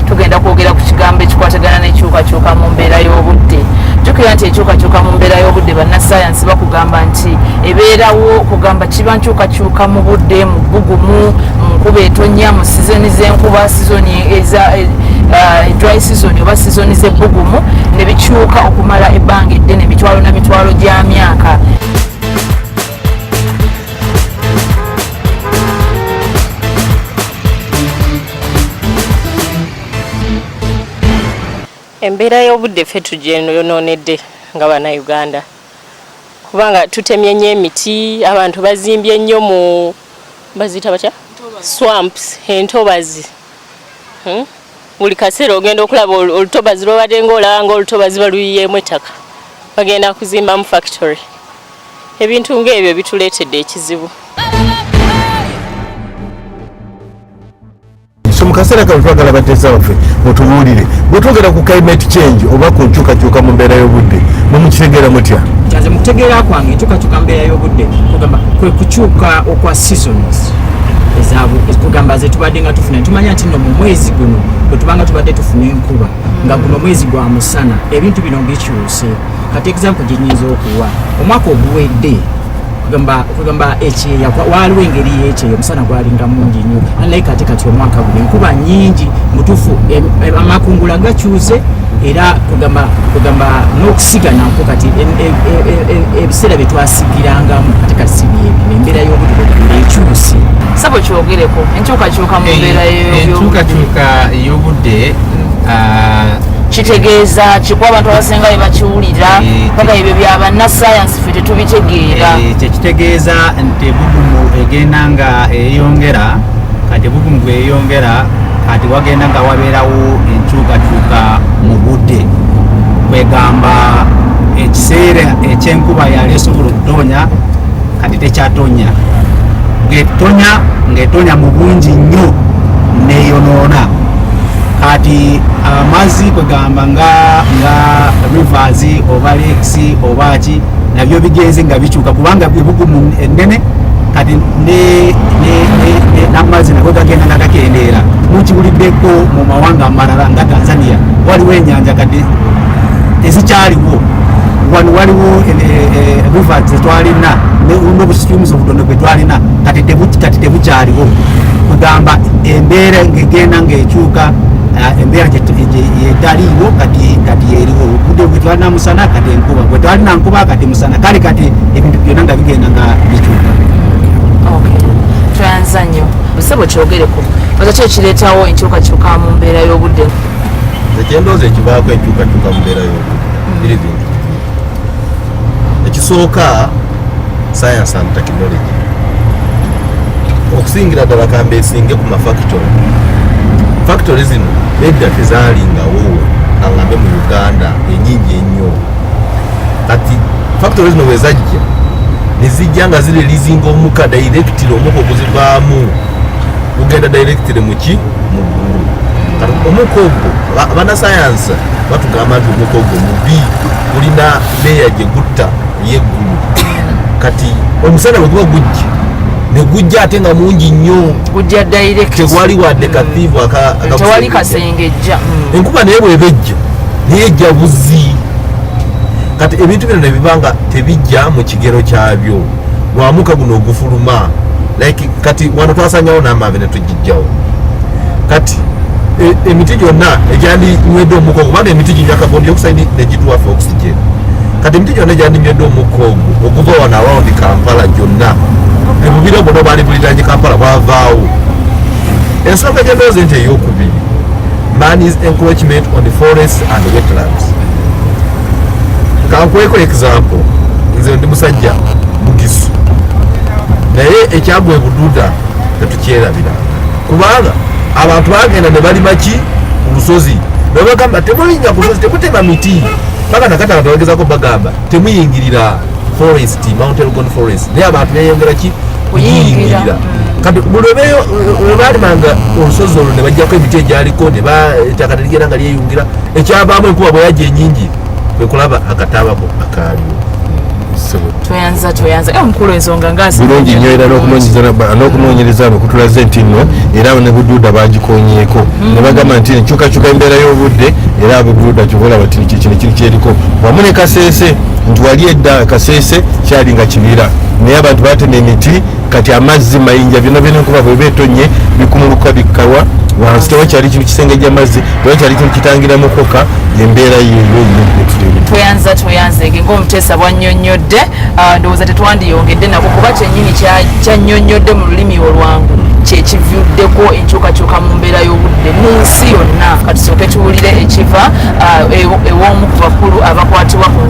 tugenda kwogera ku kigambo ekikwatagana n'enkyukakyuka mu mbeera y'obudde jukira nti enkyukakyuka mu mbeera y'obudde bannasayansi bakugamba nti ebeerawo kugamba kiba nkyukakyuka mu budde mu bbugumu mu nkuba etonya mu sizoni z'enkuba sizoni eza eh, Uh, dry season oba sizoni z'ebbugumu ne bikyuka okumala ebbanga eddene mitwalo na mitwalo gya myaka Thank you. embeera y'obudde ffe tugyenononedde nga bannayuganda kubanga tutemye nnyo emiti abantu bazimbye nnyo mu baziyita batya swamps entobazi hmm? buli kaseera ogenda okulaba olutobazi lwobadde ngaolaba nga olutobazi baluyiyeemu ettaka bagenda kuzimbamu factory ebintu ng'ebyo bituleetedde ekizibu so mu kaseera kano twagala bateesa baffe mutubuulire bwetwogera ku climate change oba ku nkyukakyuka mu mbeera y'obudde mumukitegeera mutya kyanze mukutegeera kwange enkyukakyuka mu mbeera y'obudde kugamba kwe kukyuka okwa seasons kugamba zetubadde nga tufuna tumanya nti no mu mwezi guno bwetubanga tubadde tufuna enkuba nga guno mwezi gwa musana ebintu bino bikyuse kati example gyenyinza okuwa omwaka oguwedde kugamba kugamba ekyeya waaliwo engeri yekyeya omusana gwalinga mungi nnyo naye kati kati omwaka guno enkuba nyingi mutufu amakungula gakyuse era kugamba kugamba n'okusiga nakwo kati e, e, e, ebiseera bye twasigirangamu kati kati si byebyo embeera y'obudde ekyuse sabo kyogereko enkyukakyuka mu mbeera enkyukakyuka ey'obudde ah, kitegeeza kikuba abantu abasinga bye bakiwulira paka ebyo bya bannasayansi tetubitegeera eh, kyekitegeeza nti ebugumu egenda nga eyongera kati ebugumu bweyongera kati wagenda nga wabeerawo enkyukakyuka mu budde kwegamba ekiseera ekyenkuba yali esobola okutonya kati tekyatonya ngetonya ngetonya mu bungi nnyo neyonoona kati amazzi kwegamba nga nga rivers oba lakes oba ki nabyo bigenze nga bikyuka kubanga ebugumu ennene kati n'amazzi nago gagenda nga gakendeera mukiwuliddeko mu mawanga amalala nga tanzania waliwo enyanja kati ezikyaliwo wano waliwo eh, eh, eh, riva zetwalina nobusitumuzi obutono bwetwalina kati tebukyaliwo kugamba embeera ngegenda ngaekyuka embeera yetaliiwo kati eriwo obude bwetwalinamu musana kati enkuba gwe twalina nkuba kati musana kale kati ebintu byona nga bigenda nga bikyuka tweyanza nnyo busebo kyogereko oza ki ekireetawo enkyukakyuka mu mbeera y'obudde ekyendoozi ekivaako enkyukakyuka mu mbeera y'obudde biri bintu ekisooka science and technology okusingira ddala kambe esinge ku mafactory factory zino edda tezalingawo angambe mu uganda enyingi ennyo kati factory zino wezajja nezijja nga zirelizinga omuka directly omuka okuzivaamu gugenda directly muki muggulu kati omuka ogwo abanasayansi batugamba nti omuka ogwo mubi gulina leya gyegutta yeggulu kati omusana bweguba gujja negujja ate nga mungi nnyo gujja direct tewali wadde kathiivu tewali kasengejja mm. enkuba naye bweba ejja naye ejja buzi kati ebintu bino nebiba nga tebijja mu kigero kyabyo wamuka guno ogufuluma like kati wano twasanyawo n'amavi netujja kijjawo kati e, emiti gyonna egyandinywedde omukka ogwo kubanga emiti ginywa carbon dioxide negituwafe oxygen kati emiti gyonna egyandinywedde omukka ogwo okuva wano around kampala gyonna ebubira bwona obwali buliranye kampala bwavaawo ensonga gyendoozi nti eyokubiri man is encroachment on the forest and wetlands kankweko example nze ndi musajja mugisu naye ekyagwa ebududa kyerabira kubanga abantu bagenda ne balima ki ku lusozi nebagamba temulinnya ku lusozi temutema miti paka nakati abantu bagezako bagamba temuyingirira forest mount elgon forest naye abantu beyongera ki kuyingirira kati buli webalimanga olusozi olwo ne bajjako emiti egyaliko ne ettaka teligera nga lyeyungira ekyavaamu enkuba bwe yajja enyingi kwekulaba akataabako akaaliwo tweyanza tweyanza e omukulu ensonga ngabirungi nyo era n'okunoonyereza no kutulaze nti no era ne buduuda bagikonyeeko mm. ne bagamba nti enkyukakyuka embeera y'obudde era buduuda kyobola bati kino kiri kyeriko wamu ne kaseese nti wali edda kaseese kyali nga kibira naye abantu batema emiti kati amazzi mayinja byona byona enkuba bweba etonye bikumuluka bikkawa wansi tewa kyali kintu kisenge gyamazzi tewa kyali kintu kitangira mukoka embeera yeyoyetweyanzatweyanzege ngaomuteesa bwanyonyodde ah, ndowooza tetwandiyongedde nako kuba kyenyini kyanyonyodde mu lulimi olwangu kyekivuddeko enkyukakyuka mu mbeera y'obudde mu nsi yonna katusooke tuwulire ekiva ah, e-, ew'omu ku bakulu abakwatibwa ku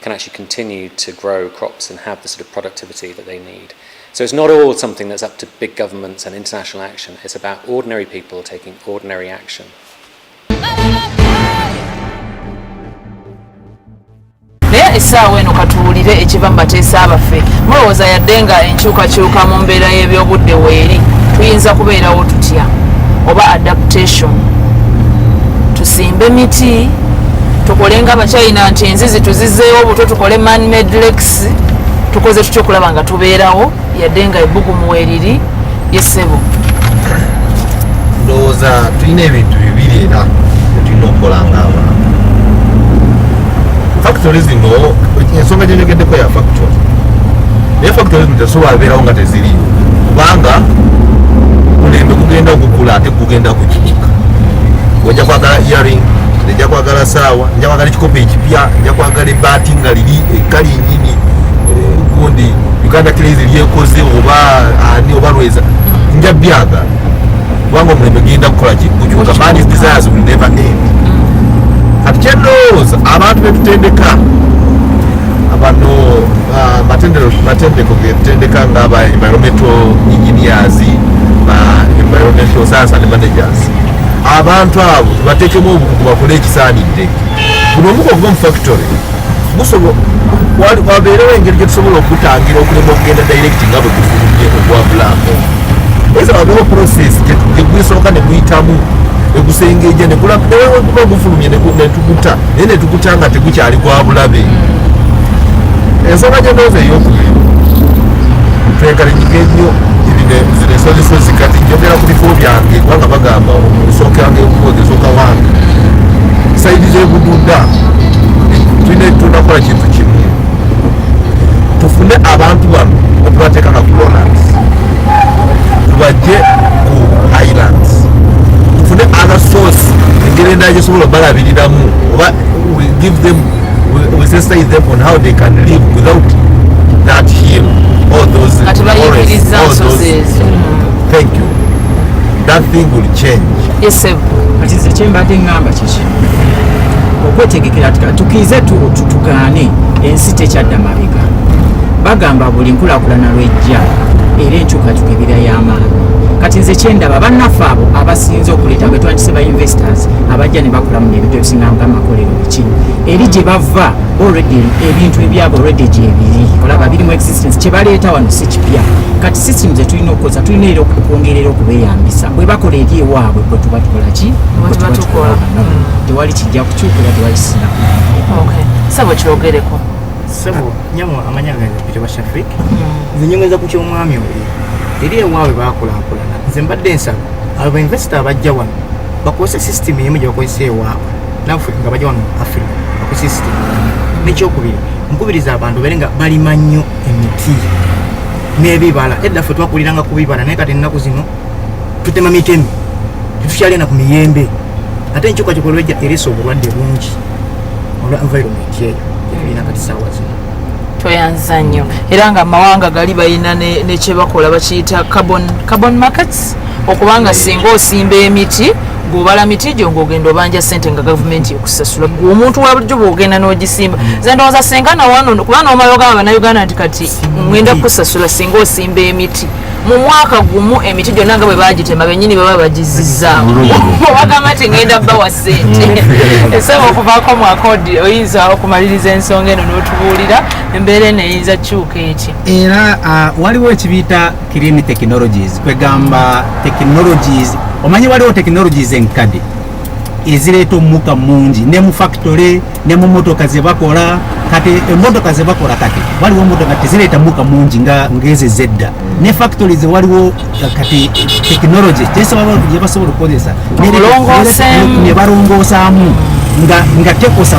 can actually continue to grow crops and have the sort of productivity that they need. So it's not all something that's up to big governments and international action, it's about ordinary people taking ordinary action. essaawa eno katuwulire ekiva mu bateesa baffe mulowooza yadde nga enkyukakyuka mu mbeera y'ebyobudde weeri tuyinza kubeerawo tutya oba adaptation tusimbe miti tukole nga abachina nti enzizi tuzizeewo obutwe tukole manmade lakes tukoze tutya okulaba nga tubeerawo yadde nga ebbugumu weriri yesebo ndowooza tulina ebintu bibiri era tulina okukola nga abantu factory zino ensonga gyenyogeddeko ya factory naye factory zino tezisobola beerawo nga teziriyo kubanga mulembe gugenda ogukula ate ogenda kukinyika ojja kwagala earing nja kwagala saawa nja kwagala ekikopo ekipya nja kwagala ebaati nga liri ekkali nyini eh, gundi uganda crazy lyekoze oba ani oba lweza nja byagala kubanga omulembe genda kukola kikukyuka man's desires will never end kati kyendowooza abantu betutendeka abano ah, matendeko getendeka nga ba environmental engineers ba environmental science and managers abantu abo batekemu obukugu bakole ekisaanidde buno omuko gwo mu factory wabeerewo engeri gyetusobola okutangira okulema okugenda direct nga bwe gufulumye ogwabulaako eza wabeewo process gyegusooka neguyitamu egusengeja negulaeweguba gufulumye netuguta naye netukuta nga tegukyali gwa bulabe mm. ensonga gyendooza eyokubiri twegalinjige nnyo ziresozisozi kati njogera ku bifo byange kubanga bagamba omusooka yange omukozi esooka wange saidi zebududa tulina tunakola kintu kimu tufune abantu bano otubateeka na colonans tubajje ku highlands tufune other source engeri endala gyesobola obalabiriramu oba we give them we sensitize them on how they can live without that hill all those forests all those thank you that thing will change yes sir but is the chamber thing number chichi okwetegekera tukiize tutugaane ensi tekyadda mabega bagamba buli nkulakulana lwejja era enkyukakyuka ebira y'amaanyi kati nze kyendaba bannaffe abo abasinze okuleeta nga twandise ba investors abajja ne bakolamu nebintu ebisinga nga amakolero biki eri gye bava already ebintu ebyabo already gyebiri olaba birimu existence kyebaleeta wano si kipya kati system zetulina okukoza tulina era okwongerera okubeyambisa bwe bakola eri ewaabwe bwe tuba tukola ki tewali kijja kukyukira tewali sina sebo kyogereko sebo nyamo amanya gange peter bashafik hmm. nze nyongeza ku kyomwami oli eri ewaabwe bakulankulana nze mbadde ensaba abo bainvesita abajja wano bakozesa system emu gyebakozesa ewaabwe naffe nga bajja wano africa bakozesa system nekyokubiri nkubiriza abantu bere nga balima nnyo emiti n'ebibala edda ffe twakuliranga ku bibala naye kati ennaku zino tutema mitemi tetukyalina ku miyembe ate enkyukakyuka olwejja eresa obulwadde bungi olwa environment eyo gyetulina kati saawa zino tweyanza nnyo era nga amawanga gali balina nekyebakola bakiyita carbon markets okubanga singa osimba emiti gwobala miti gyo ngaogenda obanja sente nga gavumenti ekusasula gwe omuntu wabulijjo bwogenda nogisimba mm. ze ndowooza singa nawano kuba nomala ogamba banauganda nti kati ngenda kusasula singa osimba emiti mu mwaka gumu emiti gyonna nga bwe bagitema benyini baba bagizizaamu bagamba nti ngenda bawa sente mm. esaba okuvaako mu akodi oyinza okumaliriza ensonga eno n'otubuulira embeera eno eyinza kyuka eki era waliwo ekibiyita clean technologies kwegamba technologies omanyi waliwo technologies enkade ezireeta omukka mungi ne mu factory ne mu motoka ze bakola kati emotoka ze bakola kati waliwo motoka tezireeta muka mungi nga ngezi zedda ne factories waliwo kati technology gyebasobola okukozesa ne balongoosamu nga nga tekosa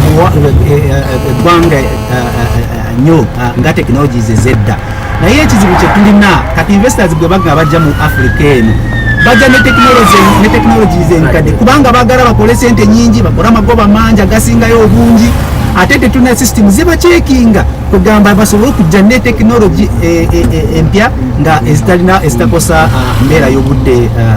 eggwanga eh, eh, eh, nyo ah, nga technologies ezedda naye ekizibu kye tulina kati investors gwe bagga bajja mu africa eno bajja ne technology ne technologies enkadde kubanga bagala bakole sente nyingi bakole amagoba mangi agasingayo obungi ate tetulina system zibakyekinga kugamba basobole okujja ne tekinologi eh, eh, eh, empya nga ezitalina ezitakosa ah, mbeera y'obudde ah,